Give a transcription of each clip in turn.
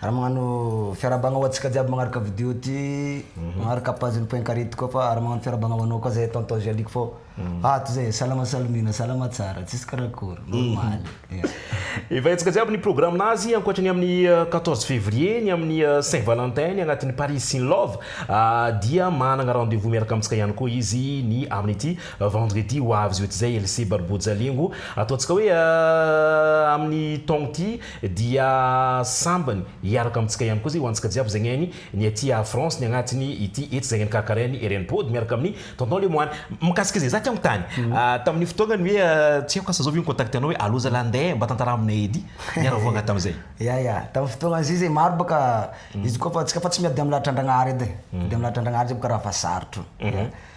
Ary magnano fiarabagna ho antsika jiaby magnaraka video ty magnaraka page ny point carré ty koa fa ary magnano fiarabagna ho anao koa zay tonton Jaliko fô ah toy zay salama salamina salama tsara tsisy karakory normaly Evahintsika jiaby ny programme-nazy ankoatry ny amin'ny quatorze février ny amin'ny saint valentin ny agnatin'ny Paris in love dia managna rendez vous miaraka amintsika ihany koa izy ny amin'ity vendredi ho avy zao ity zay LC Barbojalingo ataontsika hoe amin'ny taogno ty dia sambany hiaraka amintsika ihany koa zay ho antsika jiaby zay aigny ny aty a France ny agnatiny ity etsy zay aigny karakaraigny ery any body miaraka amin'ny tonton lemoine mikasika zay za teo mitany tamin'io fotoagnany hoe tsy aiko asa zao ve ny contact anao hoe allo zalah nde mba tantaraha aminay edy niaravoagna tamizay ya ya tamin'ny fotoagna zay zay maro bôka izy koa fa antsika fa tsy miady amin'ny lahatrandragnahary edy e miady amin'ny lahatrandragnahary zay bôka raha fa sarotro.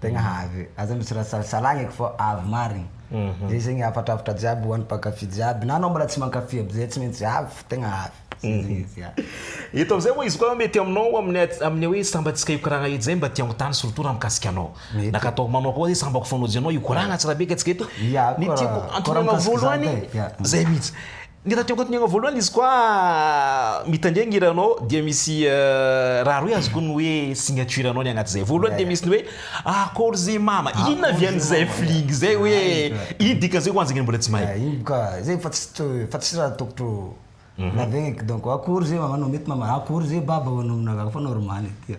Tegna avy, aza misy raha salasalagneko fa avy marigny. Zay zegny hafatrafatra jiaby hoan'ny mpankafy jiaby, na anao mbola tsy mankafy aby zay tsy maintsy avy fa tegna avy. Zay zegny izy ya. Eto amizay oa izy koa mety aminao amin'ny amin'ny hoe sambany tsika hikoragna edy zay mba te hagnontany surtout raha mikasika anao. Na ka atao manao koa zay sambako fanaojanao hikoragna tsirabeka tsika eto. Ny tiako antonona anao voalohany zay mitsy. Ny radio ankoatonegna voalohany izy koa mitandregny hiranao dia misy raha roe azoko ny hoe signature anao ny agnaty zay voalohany dia misy ny hoe akôry zay mama inona avy any zay fling zay hoe ino dikany zay ho anzegny mbola tsy mahay. Ino boka zay efa tsy to efa tsisy raha tokotro lazaigny eky donc akôry zay mama anao mety mama akôry zay baba hoanao aminareo fa normal eky.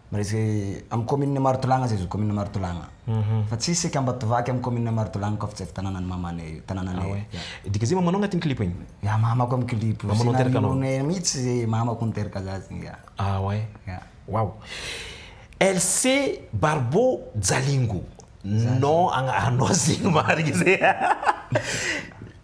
Miresaka amin'ny commune Marotolagna zay zao commune Marotolagna fa tsisy sec Ambatovaky amin'ny commune Marotolagna koa fa tsy avy tananan'i mamanay io tanananay io. Dia dika zay mamanao agnatin'ny clip igny? Ya mamako amin'ny clip io, Mamanao teraka anao. Scénario-nay mihitsy zay mamako niteraka za zay ya. Ah ouais? Ya. Wow. LC Barbo Jalingo, nom agna anao zegny marigny zay.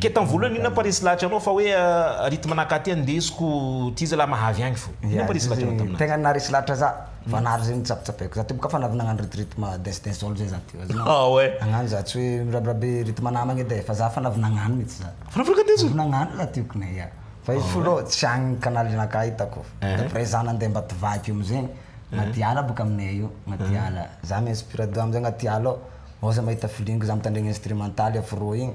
Ke tam voalohany inona pa resy lahatra anao fa hoe rythme nakaty andesiko ty zalahy mahavy agny fo. Inona pa resy lahatra anao taminazy. Tegna naharesy lahatra za fa nahary zegny nitsapitsapaiko za teo kafa navy nagnano rythme rythme dance dance all zay za teo azonao. Ah ouais. Nagnano za tsy hoe mirabirabe rythme namagna edy e fa za fa navy nagnano mintsy za. Fa navy nagnano izy. Navy nagnano za teo kny ya. Fa izy fo aloha tsy agny canal nakah hitako. Après za nande ambatovaky io amzegny agnaty ala boka aminay io agnaty ala za mi inspire do amzay agnaty ala ao, oza mahita filingue za mitandregny instrumental afro igny.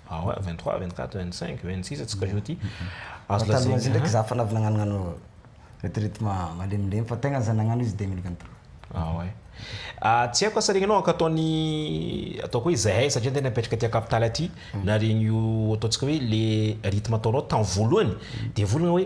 Ah ouais, vingt trois, vingt quatre, vingt cinq, vingt six atsika zao ty azo lazaina. Taloha izy ndraiky za fa navy nagnano gnano retraite malemilemy fa tegna za nagnano izy deux mille vingt trois. Ah ouais. Ah, tsy haiko asa regny anao ankataon'ny ataoko hoe zahay satria tena mipetraka aty capitale aty, na regny io ataontsika hoe le rythme ataonao tamin'ny voalohany, de volagna hoe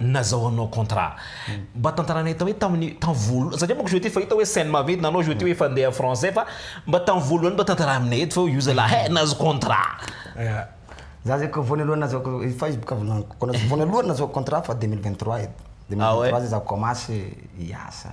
nazahoanao contrat. Mba tantaranay tao hoe tamin'ny tamin'ny voalohany satria manko jeté fa hita hoe scène maventy na anao jeté hoe efa andeha français fa mba tamin'ny voalohany mba tantara aminay eto fa io zalahy hey nahazo contrat. Za zay ko voanalohany nazahoako Facebook avy laniko ko voanalohany nazahoako contrat fa deux mille vingt trois edy deux mille vingt trois zay za commence hiasa.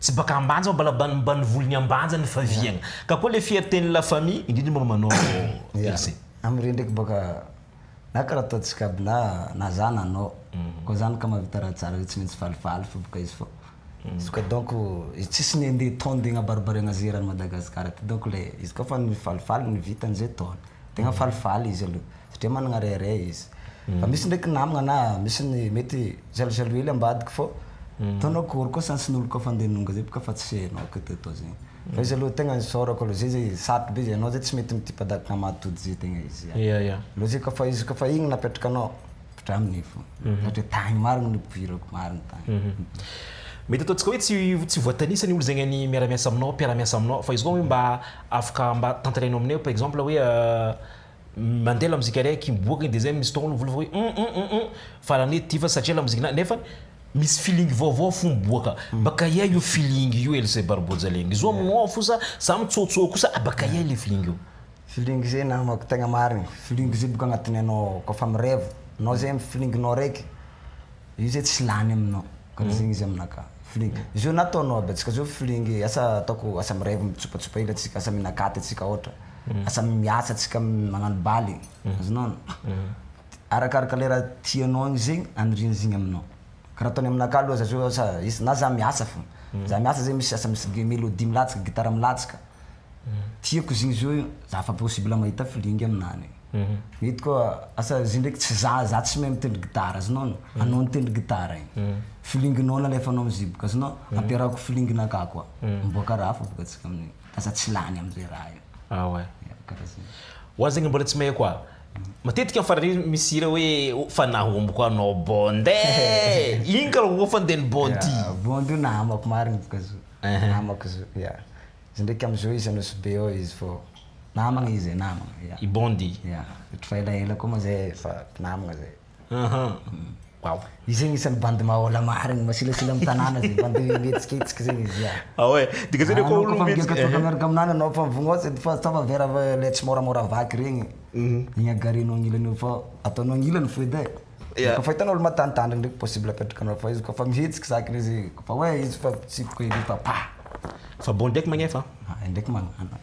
Tsy baka ambanja fa mbala mbanimbany volony ambanja ny faviagna. Ka koa le fierté ny la famille indrindra momba anao Elysée. Am re ndraiky baka na karaha ataontsika aby na na za na anao ko zany ka mahavita raha tsara re tsy maintsy falifaly fô baka izy fô izy ko donc izy tsisy ny ande tao ande agnabaribariagna ze eran'i Madagascar ty donc le izy ka fa ny falifaly ny vita anze tao tegna falifaly izy aloha. satria managna rehareha izy fa misy ndraiky namagna na misy ny mety jaloujaloux hely ambadika fô atao anao akory koa sans ny olo koa fa andeha hanonga zay boka fa tsy enao ko ty atao zegny fa izy aloha tegna isaorako aloha zay zay sarotro be zay anao zay tsy mety mitipadadaka hamaha tody zay tegna izy ya ya aloha zay koa fa izy koa fa igny napetraka anao draminy fô ohatra hoe tagny marigny nipoirako marigny tagny Mety ataontsika hoe tsy tsy voatanisa ny olo zegny any miara-miasa aminao mpiara-miasa aminao fa izy koa hoe mba afaka mba tantarainao aminay par exemple hoe Mandeha lamozika iray aky miboaka iny dia izay misy tongolo mivolovolo hoe hum hum hum hum farany hoe ity fa satria lamozikina nefa misy feeling vaovao fo miboaka. Bakaiay io feeling io Else Barbojaleng? Izy io aminao ao fosa za mitsoatsoa kosa ah bakaiay ilay feeling io? Feeling zay namako tegna marigny, feeling zay boka agnatin'ny anao ao kôfa mireva, anao zay amin'ny feeling-nao araiky, io zay tsy lany aminao, karaha zegny izy aminakahy, feeling. Izy io na ataonao aby atsika zao feeling asa ataoko asa mireva mitsopatsopa hely atsika, asa mihinan-katy atsika ôhatra, Lasa miasa antsika magnano bale azonao arakaraka le raha tianao igny zegny aniriany zegny aminao, ka raha ataony aminakahy aloha za zao sa is- na za miasa fô, za miasa zegny misy asa misy melodie milatsaka gitara milatsaka, tiako izy igny zo io za fa possible mahita feeling aminany, mety koa asa izy io ndraiky tsy za za tsy mahay mitendry gitara azonao no anao nitendry gitara igny, feeling-nao nalefanao am'zio boka azonao ampiarahako feeling-nakah koa miboaka raha hafa boka tsika amin'igny. aza tsy lany amzay raha io. Ah ouais. Ya, karaha zay. Ho ahy zegny mbola tsy mahay koa. Matetika am farany ery misy hira hoe oh fa nahomboko anao Bond e! Igny kara ho fanden'i Bond ty. Ya, Bond io namako marigny boka izy io. Namako izy io, ya. Izy ndraiky am jeux izy Anosibe ao izy fô namagna izy e, namagna, ya. I Bond i? Ya, ohatry fa elaela koa moa zay fa mpinamagna zay. Waouh. Io zegny isan'ny bandy mahaola marigny, masilasila amin'ny tanàna zegny, bandy mihetsiketsika zegny izy ah. Ah ouais, dika zany koa olo mihetsika. Anao koa fa miaraka aminany anao fa mivognao sady fa ataova verre le tsy môramôra vaky regny. Mhm. Igny agarianao agnilany eo fa ataonao agnilany fo edy e. Ya. Kôfa hitanao olo matanitany regny ndraiky possible apetrakanao fa izy kôfa mihetsiky zakany izy kôfa hoe izy fa tsy ko edy efa pah. Fa bon ndraiky magnefa an. Ah, indraiky magnano.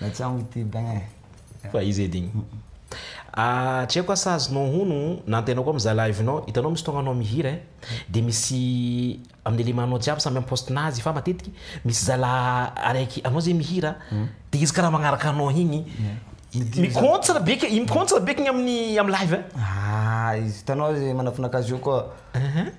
Natsamo ity bain eh. Fa izy edy igny. Ah, tsy haiko asa azonao hono, nantenaiko ao mizaha live-nao, hitanao misy fotoagna anao mihira eh, dia misy amin'ny élément-nao jiaby samy am-poste-nazy fa matetiky misy zala araiky anao zay mihira, dia izy karaha magnaraka anao igny, mi-contre be ke, mi-contre be ke igny amin'ny, amin'ny live eh. Ah, izy hitanao izy manafinaka azy eo koa.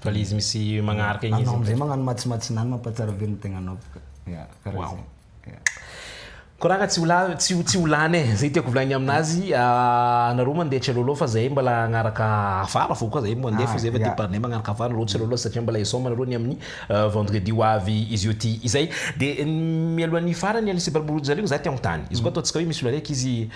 Fa le izy misy magnaraka igny izy. Anao amizay magnano matsimatsina any mampahatsiaro be ny tegnanao boka. Ya, karaha zay. Ya. Koragna tsy ho la- tsy ho- tsy ho lany e, zay tiako volagnina aminazy, anareo mandeha Celolo fa zahay mbala hagnaraka afara fô koa zahay mandeha fô zahay fa de par ne magnaraka afara anareo Celolo satria mbala hisaoma anareo ny amin'ny vendredi ho avy izy io ty izay. De mialohan'ny hifarany Alice Barborojaregny za te hagnontany, izy koa ataontsika hoe misy olona araiky izy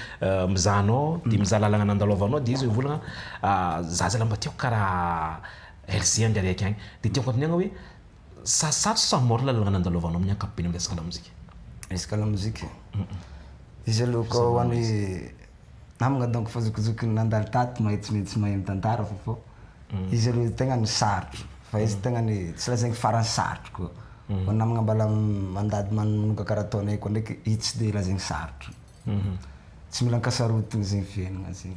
mizaha anao de mizaha lalagna nandalovanao de izy mivolagna Za zalahy mba tiako karaha RJ Andriariaka agny, de tiako anotaniagna hoe sa sarotra sa mora lalàlagna nandalovanao amin'ny ankapobeny amin'ny resaka lamozika? Resaka lamozika? Izy aloha koa ho an'ny namagna donc fa zokizoky ny nandalo tato mahay tsy maintsy mahay mitantara fa fô izy aloha ny tegna ny sarotro fa izy tegna ny tsy lazaigny faran'ny sarotro koa fa ny namagna mbala mandady manonga karaha ataonay koa ndraiky izy tsy de lazaigny sarotro, tsy mila ankasarotina zegny fiaignana zegny.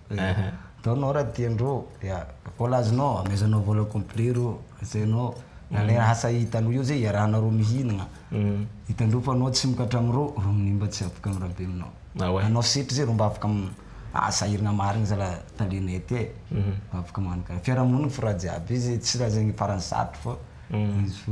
Ataonao raha tiandreo, ya, voalazonao, amezanao vola complet reo, asainao, na le asa hitanao eo zay iarahanao roa mihinagna, hitandreo fa anao tsy mokatra amreo, reo minia mba tsy afaka am rabeminao, anao setra zay reo mba afaka am ah sahiragna marigny zalah tale net e, mba afaka magnano karaha, fiarahamonigny f'raha jiaby izy tsy raha zegny farany sarotry fa izy fo.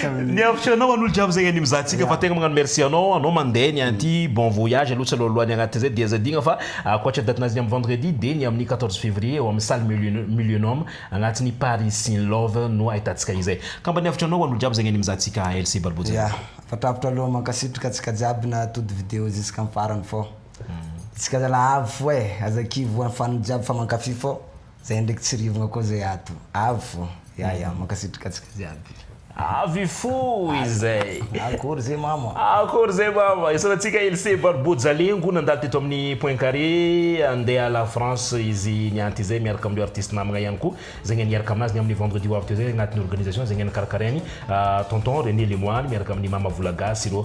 Ny hevitry anao an'olo jiaby zay any mizaha antsika fa tegna magnano merci anao anao mandeha ny anty bon voyage aloha tsy alohalohany agnatiny zay dia zahadigna fa ankoatry date nazy ny am vendredi dia ny amin'ny quatorze février eo amin'ny salle mil- millionum agnatiny paris in love no ahitantsika izay ka mba ny hevitry anao an'olo jiaby zay any mizaha antsika ALC Balbo Dia Channel. afatrafitra aloha mankasitraka antsika jiaby nahatody video jusque am farany fô tsika zalah avy fô e aza kivy ho an fano jiaby fa mankafy fô. Zay ndraiky tsy rivogna koa zay ato. Avy fô. Ya ya, mankasitraka antsika jiaby. Avy fô izay. Akory zay mama. Akory zay mama. Isaorantsika Ilse Barbeau Jalengo nandalo teto amin'ny Point Carré handeha la France izy nianty izay miaraka amin'ireo artistes namagna ihany koa. Zegny a niaraka aminazy ny amin'ny vendredi ho avy teo zay agnatin'ny organisation zegny a nikarakarain'i Tonton René Lemoine miaraka amin'ny Mama Volagasy ireo.